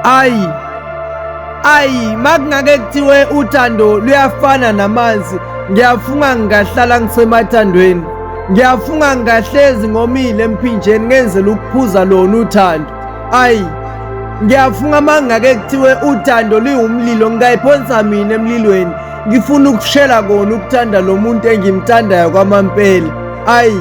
ayi ayi makungake kuthiwe uthando luyafana namanzi ngiyafunga ngingahlala ngisemathandweni ngiyafunga ngingahlezi ngomile emphinjeni ngenzela ukuphuza lona uthando ayi ngiyafunga makungake kuthiwe uthando liwumlilo ngingayiphonsa mina emlilweni ngifuna ukushela kona ukuthanda lo muntu engimthandayo kwamampela ayi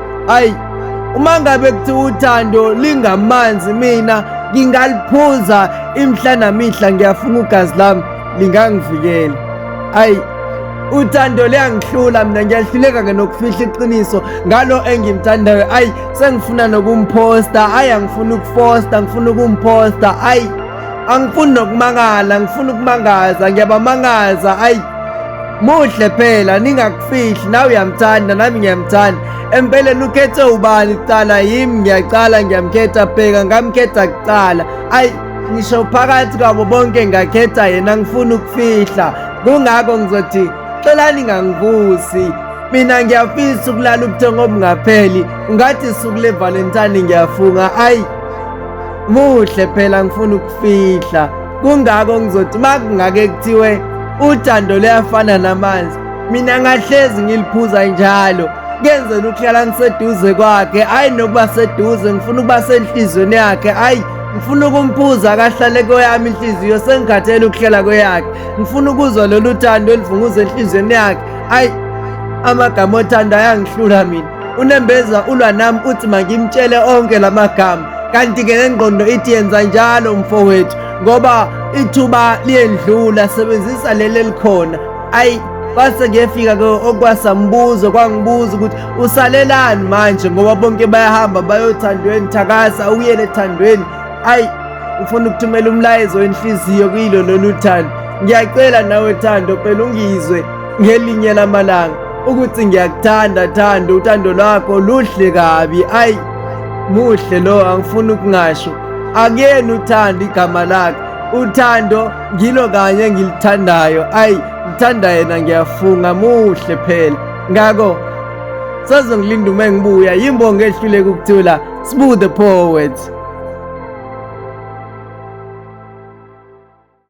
Hayi uma ngabe kuthi uthando lingamanzi mina ngingaliphuza imhla namihla ngiyafuna ugazi lami lingangivikela. Hayi uthando liyangihlula mina ngiyahluleka ke nokufihla iqiniso ngalo engimthandayo ayi sengifuna nokumphosta ayi angifuni ukufosta ngifuna ukumposta ayi angifuni nokumangala ngifuna ukumangaza ngiyabamangaza ayi muhle phela ningakufihli nawe uyamthanda nami ngiyamthanda empeleni ukhethe ubani kuqala yimi ngiyaqala ngiyamkhetha bheka ngamkhetha kuqala ayi ngisho phakathi kwabo bonke ngakhetha yena ngifuna ukufihla kungako ngizothi xelani ngangivusi mina ngiyafisa ukulala ubuthongo obungapheli ungathi suku levalentine ngiyafunga ayi Muhle phela ngifuna ukufihla. Kungako ngizothi makungake kuthiwe uthando luyafana namanzi. Mina ngahlezi ngiliphuza njalo. Kenzela ukuhlala ngiseduze kwakhe, hayi nokuba seduze, ngifuna ukuba senhlizweni yakhe, hayi ngifuna ukumphuza akahlale kweyami inhliziyo sengikhathele ukuhlala kweyakhe ngifuna ukuzwa lolu thando elivunguza enhliziyweni yakhe ayi amagama othando ayangihlula mina Unembeza ulwa nami uthi mangimtshele onke la magama kanti-ke nengqondo ithi yenza njalo mfowethu ngoba ithuba liyendlula sebenzisa leli elikhona ayi kwase kuyefika ke okwasambuzo kwangibuza ukuthi usalelani manje ngoba bonke bayahamba bayothandweni thakasa uyele ethandweni ayi ufuna ukuthumela umlayezo wenhliziyo kuyilo lolu thando ngiyacela nawe thando phela ungizwe ngelinye lamalanga ukuthi ngiyakuthanda thanda uthando lwakho luhle kabi ayi muhle lo angifuni ukungasho akuyena uthanda igama lakhe uthando ngilo kanye engilithandayo ayi ngithanda yena ngiyafunga muhle phela ngakho sazongilinda uma ngibuya yimbongo ehluleka ukuthula sbu the poet